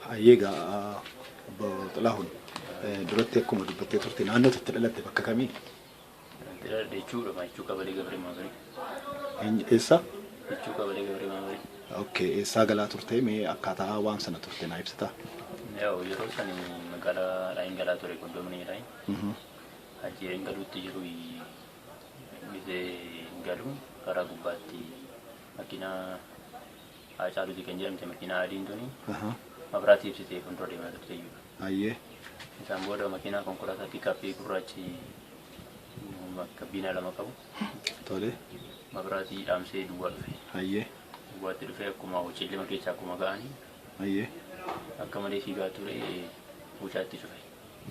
Hayyee gaa obbo Xilaahuun duratti akkuma dubbattee turte naannoo itti dhalatte bakka kamii? Dhaladhe jechuudha maachuu qabalee gabree maabarii. Eenyu- Eessa? Jechuu qabalee gabree maabarii. Okay, eessaa galaa turte mee akkaataa waan sana turte naa ibsitaa? Yaa'u yeroo sani magaalaa Raayin galaa ture qoddoomni Raayin. Mhm. Ajjeeriin galuutti jiru gisee galu karaa gubbaatti makiinaa Haacaaluuti kan jedhamte makiinaa adiin tuni Aha. mabraati ibsitee fuuldura deemaa turte iyyuu. Ayyee. Isaan booda makiinaa konkolaataa piikaappii gurraachi gabbiinaa lama qabu Tole. mabraatii dhaamsee duwwaa dhufe. Ayyee. Duwwaatti dhufee akkuma hojiillee keessa akkuma ga'anii Ayyee. akka malee fiigaa ture mucaatti cufe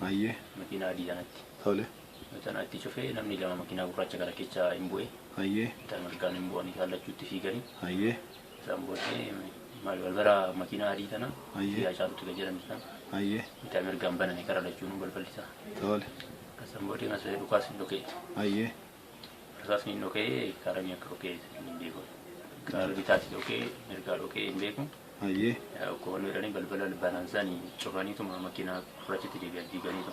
Ayyee. makiinaa adii sanatti. Tole. Macanaa itti cufee namni lama makiinaa gurraacha kana keessa hin bu'e. Hayyee. Bitaa mirgaan hin bu'an isaan lachuu itti fiiganii. Hayyee. Isaan booddee maal balbala makiinaa adii tana Hayyee. biyyaa caalutti kan jedhamtu sana Hayyee. bitaa mirgaan baname karaa lachuunuu balballi isaa. Tole. Isaan booddee kanas dhukaas hin dhoka'e. Hayyee. Rasaasni hin dhoka'e kaaranii akka dhoka'e hin beeku. Kaara bitaati dhoka'e mirgaa dhoka'e hin beeku. Hayyee. Koon jedhanii balbala banaan sani cufaniituma makiinaa gurraachitti deebi'an fiiganiitu.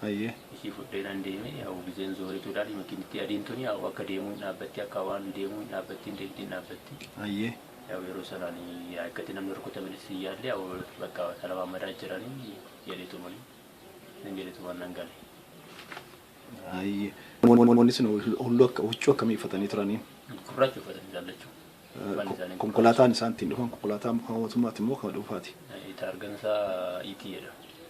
Hayyee. Ishii fudhee nan deeme yaa'u gizeen zoorituu ilaali makiinittii adiin tuni yaa'u akka deemuu hin dhaabbatti akka waan deemuu hin dhaabbatti hin deemti hin dhaabbatti. Hayyee. Yaa'u yeroo sanaan yaa akkatti namni rukutame sin yaalle yaa'u bakka talabaamadaa jiranii jedheetumani nan jedheetuman nan gale. Hayyee. Namoonni sun hulluu akka huccuu akkamii uffatanii turanii? Gurraacha uffatanii laallachuu. Uffanni isaanii Konkolaataan isaan ittiin dhufan konkolaataa mootummaati immoo kan dhuunfaati? Taargan isaa itii jedhama.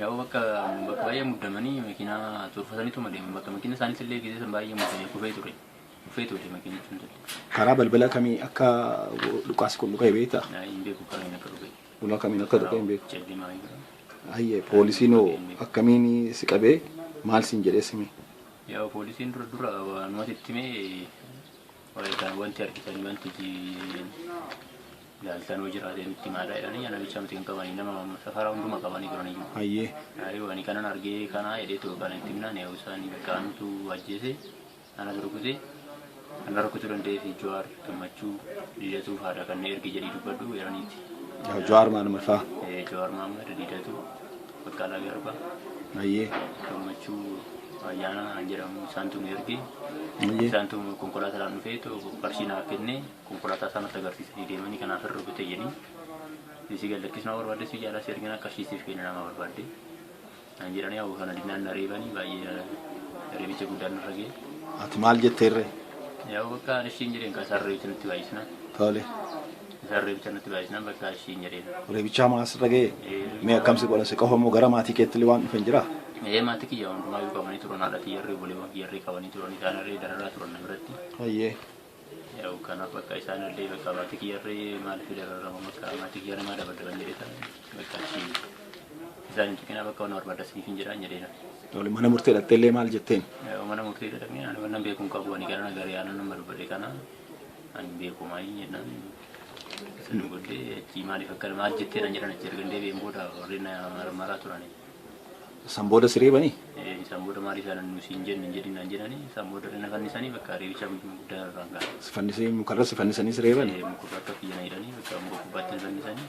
Yaa'u bakka bakka baay'ee muddamanii makiinaa turfataniituma deeman bakka makiina isaaniitti illee gisee san baay'ee muddamee kufee ture. Kufee ture makiinni sun illee. Karaa balbala kamii akka dhukaasi kun dhukaa'e beektaa? Naa hin beeku kamiin akka dhufe. Ulaa kamiin akka dhukaa'e hin beeku. Callimaa hin beeku. Hayyee poolisiin hoo akkamiin si qabee maal siin jedhee simi? Yaa'u poolisiin dura dura waanumatti itti himee Wayita wanti argitanii wanti jiin laaltanoo jiraatee nutti himaadha jedhanii yaa namicha miti hin qabanii nama safaraa hunduma qabanii turan iyyuu. Hayyee. Ayuu ani kanan argee kanaa jedhee too kana itti himnaan yaa'u isaanii bakka anutu ajjeese anas rukute ana rukutu danda'ee fi Jawaar gammachuu diidatuu faadha kanneen ergi jedhii dubbadhu jedhaniiti. Jawaar Mahammad faa. Jawaar Mahammad diidatuu. Baqqalaa Garba. Ayyee. Gammachuu Ayyaanaa kan jedhamu isaantu nu erge. Ayyee. Isaantu konkolaataadhaan dhufee too qarshii naaf kenne konkolaataa isaan natti agarsiisanii deemanii kanaaf irra rukute jedhanii. Isii gad lakkisuu na barbaadde si jaalaa si ergina qarshii siif kenna nama barbaadde. Naan jedhanii hawwa kana dinnaan na reebanii baay'ee reebicha guddaan narra ga'e. Ati maal jetteerree? Yaa'u bakka ishiin jedheen kan sarreetti nutti baay'isna. Tole. Isaan reebicha natti baay'isan bakka ashiin jedheen. Reebichaa maa asirra ga'e? Mee akkam si godhan si qofa moo gara maatii keetti illee waan dhufan jira? Ee maatii kiyya hundumaa yoo qabanii turan haadha kiyyarree obboleewwan kiyyarree qabanii turan isaan irree dararaa turan na biratti. Hayyee. Yaa'u kanaaf bakka isaan illee bakka maatii kiyyarree maaliif dararama bakka maatii kiyya namaa dabadaban jedhee ta'a bakka ashiin. Isaan hin tuqinaa bakka waan barbaadda siif hin jedhaan jedheena. Tole mana murtee dhattee illee maal jetteen? Yaa'u mana murtee jedhamee ani waan beekuun qabu ani gara nagarii aanan nama dubbadhe kana Ani hin beeku maayii jennaan sana booddee achii maaliif akkana maal jettee naan jedhan achii ergan deebi'een booda warri na marmaraa turani. San booda si reebanii? Eh, Isaan booda maaliif yaalan nu siin jenne hin jedhin naan jedhani isaan booda irra na fannisanii bakka reebicha guddaa irraan ga'a. Si fannisee mukarra si fannisanii si reebanii? Eh, Muka bakka kiyya na hidhanii bakka muka gubbaatti na fannisanii.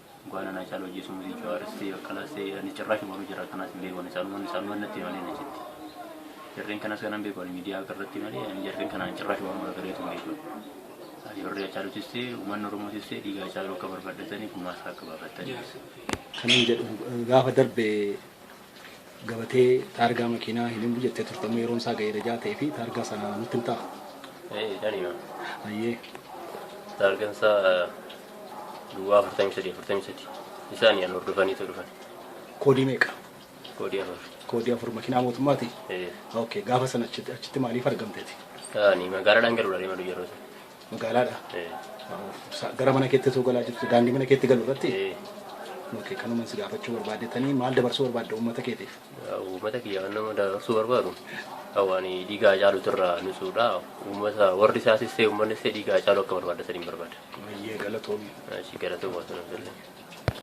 Dhugaa nanaa caaluu ajjeesuu mutii jawaaris ta'e baqqalaas ta'e ani cirraash boru jira kanas hin beeku ani saalumaan saalumaan natti himanii achitti. Jarreen kanas kanan beeku ani miidiyaa irratti malee ani jarreen kanaan cirraash waan wal gareetu hin beeku. Ani warri Hacaaluutis ta'e uummanni Oromootis ta'e dhiiga Hacaaluu akka barbaaddatanii gumaasa akka baafataniif. Kanan jedhu gaafa darbe gabatee taargaa makiinaa hin himuu jettee turte amma yeroon isaa ga'eera jaa ta'ee fi taargaa sana nutti himtaa? Ee, nan hima. Hayyee. Taargaan isaa duwwaa 43 43 isaan yaan hordofaniitu dhufan. Koodii meeqa? Koodii afur. Koodii afur makiinaa mootummaati? Ee, Okay, gaafa sana achitti achitti maaliif argamteeti? ani magaalaadhaan galuudha deema yeroo sana. Magaalaadha. Gara mana keetti osoo galaa jirtu daandii mana keetti galu irratti okay, kanuman si gaafachuu barbaadetanii maal dabarsuu barbaadda uummata keetiif? Uummata kiyya kan nama dabarsuu barbaadu waan dhiigaa caalutu irraa nusuudha. Uummata warri isaa sissee uummanni sissee dhiigaa caalu akka barbaadda saniin barbaada. Baay'ee galatoomi. Achi galatoomaa sana